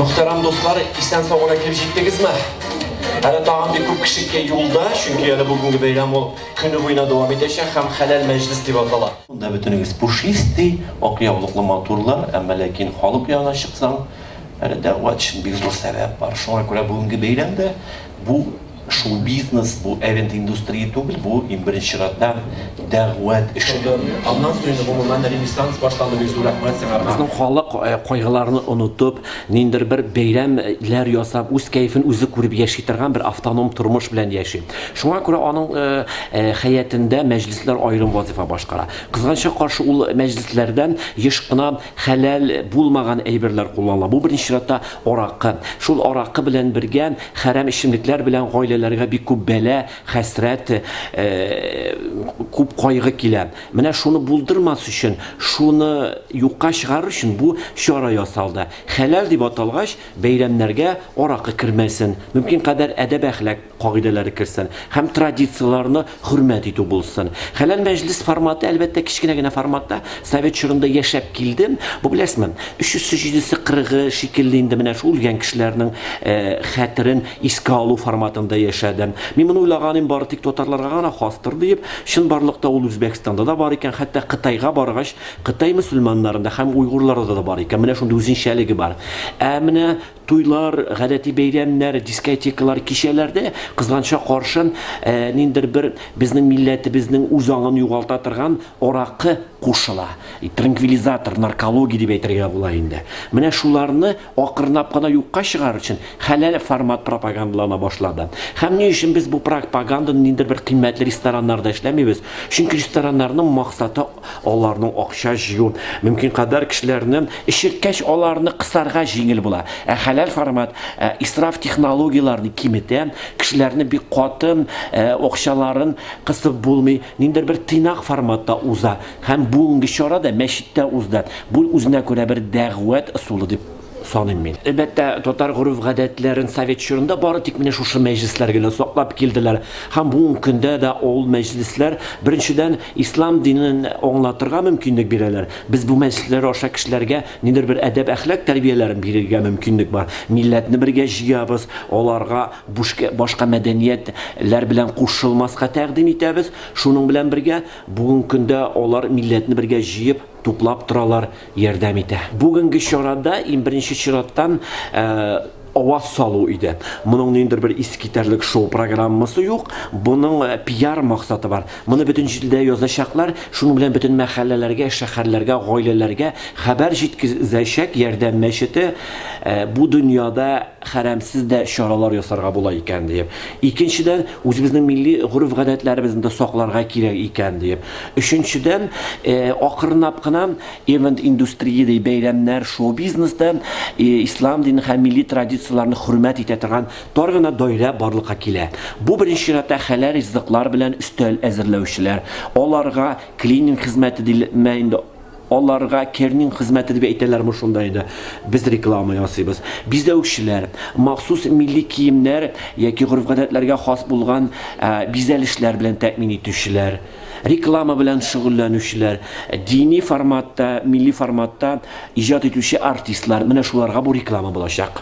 Мөхтәрәм дуслар, исән сау гына килеп җиттегезме? Әле тагын бик күп кеше юлда, чөнки әле бүгенге бәйрәм ул көне буена дәвам итәчәк һәм хәләл мәҗлес дип атала. Монда бөтенегез пушистый, ак яулыклы матурлар, әмма ләкин халык янына чыксаң, әле дәгъват өчен бик зур сәбәп бар. Шуңа күрә бүгенге бәйрәм дә бу Шоу-бизнес, бу эвент индустрия түгел, бу, иң беренче чиратта, дәгъвәт эше. Аннан соң инде гомумән ренессанс башланды, бик зур рәхмәт сиңа, Арман. Безнең халык кайгыларны онытып, ниндидер бер бәйрәм ләр ясап, үз кәефен үзе күреп яши торган бер автоном тормыш белән яши. Шуңа күрә аның хәятендә мәҗлесләр аерым вазыйфа башкара. Кызганычка каршы, ул мәҗлесләрдән еш кына Хәләл булмаган әйберләр кулланыла. Бу беренче чиратта аракы. Шул аракы белән бергә хәрәм эчемлекләр белән гаиләләргә бик күп бәла, хәсрәт, күп кайгы килә. Менә шуны булдырмас өчен, шуны юкка чыгарыр өчен бу чара ясалды. Хәләл дип аталгач, бәйрәмнәргә аракы кермәсен. Мөмкин кадәр әдәп-әхлак. кагыйдәләре керсен һәм традицияләрне хөрмәт итү булсын. Хәләл мәҗлес форматы, әлбәттә, кечкенә генә форматта, совет чорында яшәп килдем. Бу, беләсезме, өчесе, җидесе, кырыгы шикелле инде менә шул үлгән кешеләрнең хәтерен искә алу форматында яшәдем. Мин моны уйлаганым бары тик татарларга гына хастыр диеп, чынбарлыкта ул Үзбәкстанда да бар икән, хәтта Кытайга баргач, Кытай мөселманнарында һәм уйгурларда да бар икән, менә шундый үзенчәлеге бар. Ә менә Туйлар, гадәти бәйрәмнәр, дискотекалар, кичәләрдә, кызганычка каршын, ниндидер бер безнең милләтебезнең үз аңын югалта торган аракы кушыла. Транквилизатор, наркология дип әйтергә була инде. Менә шуларны акрынлап кына юкка чыгарыр өчен хәләл формат пропагандалана башлады. Һәм ни өчен без бу пропаганданы ниндидер бер кыйммәтле рестораннарда эшләмибез? Чөнки рестораннарның максаты Аларның акча җыю, мөмкин кадәр кешеләрне эшерткәч, аларны кысарга җиңел була. Ә хәләл формат исраф технологияләрен киметә, кешеләрне бик каты акчаларын кысып булмый, ниндидер бер тыйнак форматта уза. Һәм бүгенге чара да мәчеттә узды. Бу үзенә күрә бер дәгъват ысулы дип. саныйм мин. Әлбәттә, татар гореф-гадәтләрен совет чорында бары тик менә шушы мәҗлесләр генә саклап килделәр һәм бүгенге көндә дә ул мәҗлесләр, беренчедән, ислам динен аңлатырга мөмкинлек бирәләр. Без бу мәҗлесләр аша кешеләргә нидер бер әдәп-әхлак тәрбияләрен бирергә мөмкинлек бар. Милләтне бергә җыябыз, аларга башка мәдәниятләр белән кушылмаска тәкъдим итәбез. Шуның белән бергә, бүгенге көндә алар милләтне бергә җыеп, туплап торалар. ярдәм итә. Бүгенге чарада иң беренче чираттан аваз салу иде. Моның ниндидер бер искитәрлек шоу программасы юк. Моның пиар максаты бар. Моны бөтен җирдә язачаклар, шуның белән бөтен мәхәлләләргә, шәһәрләргә, гаиләләргә хәбәр җиткезәчәк ярдәм мәчете, бу дөньяда хәрәмсез дә чаралар ясарга була икән диеп. Икенчедән, үзебезнең милли гореф-гадәтләребезне дә сакларга кирәк икән диеп. Өченчедән, акрынлап кына Event индустриядәй бәйрәмнәр, шоу-бизнес да ислам динен һәм милли традицияләрне хөрмәт итә торган тар гына даирә барлыкка килә. Бу беренче чиратта хәләл ризыклар белән өстәл әзерләүчеләр, аларга клининг хезмәте дилме инде, аларга кернинг хезмәте дип әйтәләрме шунда инде, без реклама ясыйбыз, бизәүчеләр, махсус милли киемнәр яки гореф-гадәтләргә хас булган бизәлешләр белән тәэмин итүчеләр, Реклама белән шөгыльләнүчеләр, дини форматта, милли форматта иҗат итүче артистлар, менә шуларга бу реклама булачак.